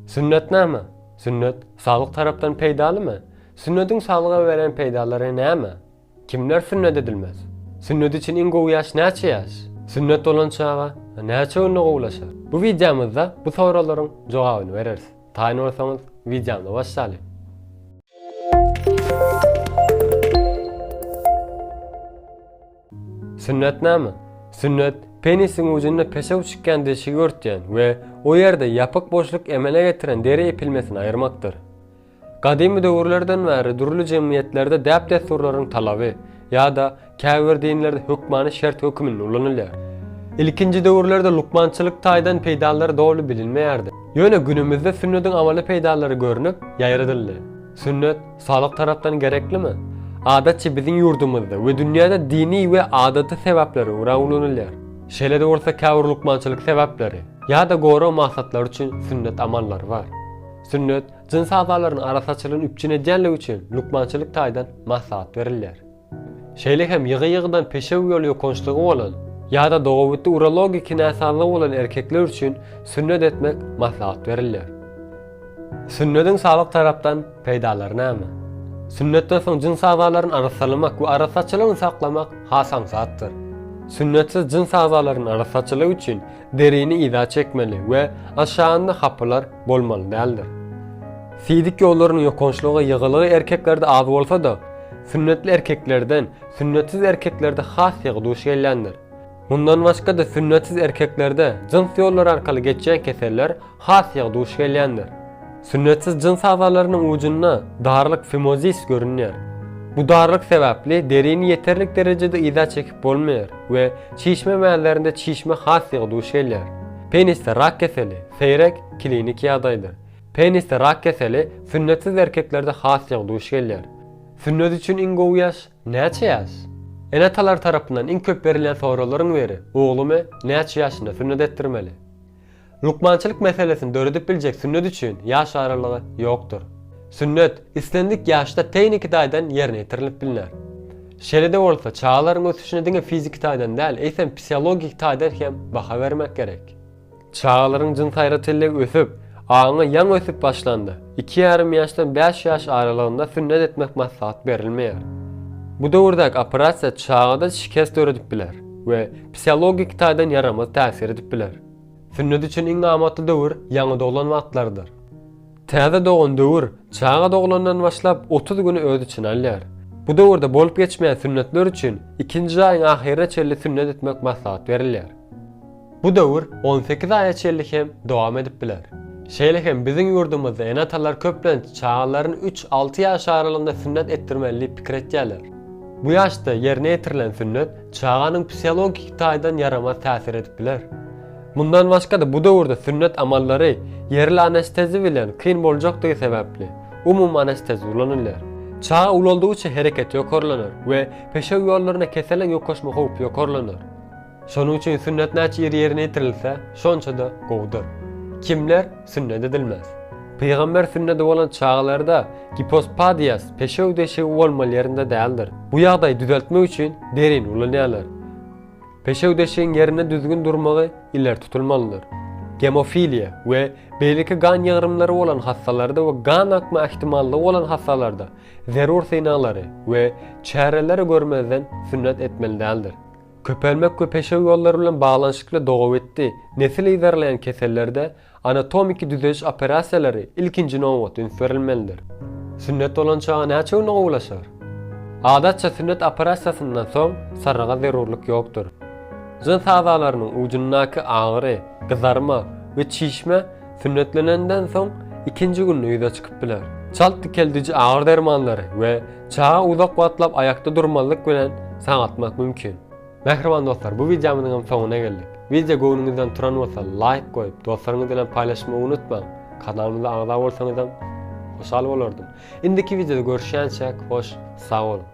Sünnet näme? Sünnet saglyk tarapdan peýdalymy? Sünnediň saglyga beren peýdalary näme? Kimler sünnet edilmez? Sünnet üçin iň gowy ýaş näçe ýaş? Sünnet bolan çaga näçe günde gowulaşar? Bu wideomyzda bu soraglaryň jogabyny bereris. Taýyn bolsaňyz wideomyzy başlalyň. Sünnet näme? Sünnet, penisiň ujunda peşew çykýan deşigi örtýän we o ýerde ýapyk boşluk emele getiren deri epilmesini aýyrmakdyr. Gadymy döwürlerden bäri dürli jemgyýetlerde däp-dessurlaryň talaby ýa-da käbir dinlerde hökmany şert höküminde ulanylýar. Ilkinji döwürlerde lukmançylyk taýdan peýdalary doly bilinmeýärdi. Ýöne günümizde sünnetiň amaly peýdalary görnüp, ýaýradyldy. Sünnet, saglyk tarapdan gereklimi? Adatça biziň ýurdumyzda we dünýäde dini we adaty sebäplere görä ulanylýar. Şeýle-de bolsa käbir lukmançylyk sebäpleri ýa-da gorag maksatlary üçin sünnet amallary bar. Sünnet, jyns agzalaryny arassaçylygyny üpjün edýänligi üçin lukmançylyk taýdan maslahat berilýär. Şeýle hem ýygy-ýygydan peşew ýol ýokançlygy bolan ýa-da dogabitdi urologiki näsazlygy bolan erkekler üçin sünnet etmek maslahat berilýär. Sünnediň saglyk tarapdan peýdalary näme? Sünnetden soň jyns agzalaryny arassalamak we arassaçylygyny saklamak has aňsatdyr. Sünnetsiz jyns agzalarynyň arassaçylygy üçin Derini yza çekmeli we aşagynda hapylar bolmaly däldir. Fizik ýollarynyň ýokançlygy, ýygylygy erkeklerde az bolsa-da, sünnetli erkeklerden sünnetsiz erkeklerde has ýygy duş gelýändir. Mundan başga-da sünnetsiz erkeklerde jyns ýollary arkaly geçýän keseller has ýygy duş gelýändir. Sünnetsiz jyns agzalarynyň ujunda darlyk, fimozis, görünýär. Bu darlyk sebäpli derini ýeterlik derejede yza çekip bolmaýar we çişme mäzlerinde çişme has ýygy duş gelýär. Penisde rak keseli, seýrek, klinik ýagdaýdyr. Penisde rak keseli sünnetsiz erkeklerde has ýygy duş gelýär. Sünnet üçin iň gowy ýaş, näçe ýaş? Ene-atalar tarapyndan iň köp berilýän soraglaryň biri, Oglumy näçe ýaşynda sünnet etdirmeli? Lukmançylyk meselesini döredip biljek sünnet üçin ýaş aralygy ýokdur. Sünnet islendik ýaşda tehniki taýdan ýerine ýetirilip bilner. Şeýle-de bolsa, çagalaryň ösüşine diňe fiziki taýdan däl, eýsem psihologik taýdan hem baha bermek gerek. Çagalaryň jyns aýratynlygy ösüp, aňy ýaňy ösüp başlanda, iki ýarym ýaşdan bäş ýaş aralygynda sünnet etmek maslahat berilmeýär. Bu döwürdäki operasiýa çagada şikes döredip biler we psihologik taýdan ýaramaz täsir edip biler. Sünnet üçin iň amatly döwür ýaňy doglan wagtlarydyr. Täze dogan döwür çaga doglandan başlap otuz güni öz içine alýar. Bu döwürde bolup geçmeýän sünnetler üçin ikinji aýyň ahyryna çenli sünnet etmek maslahat berilýär. Bu döwür on sekiz aýa çenli hem dowam edip biler. Şeýle hem biziň ýurdumyzda ene-atalar köplenç çagalaryny üç-alty ýaş aralygynda sünnet etdirmeli diýip pikir etýärler. Bu ýaşda ýerine ýetirilen sünnet Çaganyň psihologiki taýdan ýaramaz täsir edip biler. Mundan başga-da bu döwürde sünnet amallary ýerli anestezi bilen kyn boljakdygy sebäpli, umumy anestezi ulanylýar. Çaga ulaldygyça hereketi ýokarlanar we peşew ýollarynda keseliň ýokaşma howpy ýokarlanar. Şonuň üçin sünnet näçe ir ýerine ýetirilse, şonça-da gowudyr. Kimler? Sünnet edilmez. Pygamber sünnedi bolan çagalarda gipospadiýas, peşew deşigi bolmaly ýerinde däldir. Bu ýagdaýy düzeltmek üçin derini ulanýarlar. Peşew deşigiň ýerinde düzgün durmagy ileri tutulmalydyr. Gemofiliýa we beýleki gan ýygrymlary bolan hassalarda we gan akma ähtimallygy bolan hassalarda zerur synaglary we çäreleri görmezden sünnet etmeli däldir. Köpelmek we peşew ýollary bilen baglanyşykly dogabitdi nesil yzarlaýan kesellerde anatomiki düzediş operasiýalary ilkinji nobatda üns berilmelidir. Sünnet bolan çaga näçe günde gowulaşar? Adatça sünnet operasiýasyndan soň sarryga zerurlyk ýokdur. Jyns agzalarynyň ujundaky agyry, gyzarma we çişme Sünnetlenenden soň ikinji günde ýüze çykyp biler. Çalt dikeldiji agyr dermanlary we çaga uzak wagtlap aýakda durmazlyk bilen saňatmak mümkin. Mähriban dostlar bu wideomyzyň hem soňuna geldik. Wideo göwnüňizden turan bolsa laýk goýup dostlaryňyz bilen paýlaşmagy unutmaň. Kanalymyza agza bolsaňyzam hoşal bolardym. Indiki wideoda görüşýänçäk hoş sag boluň.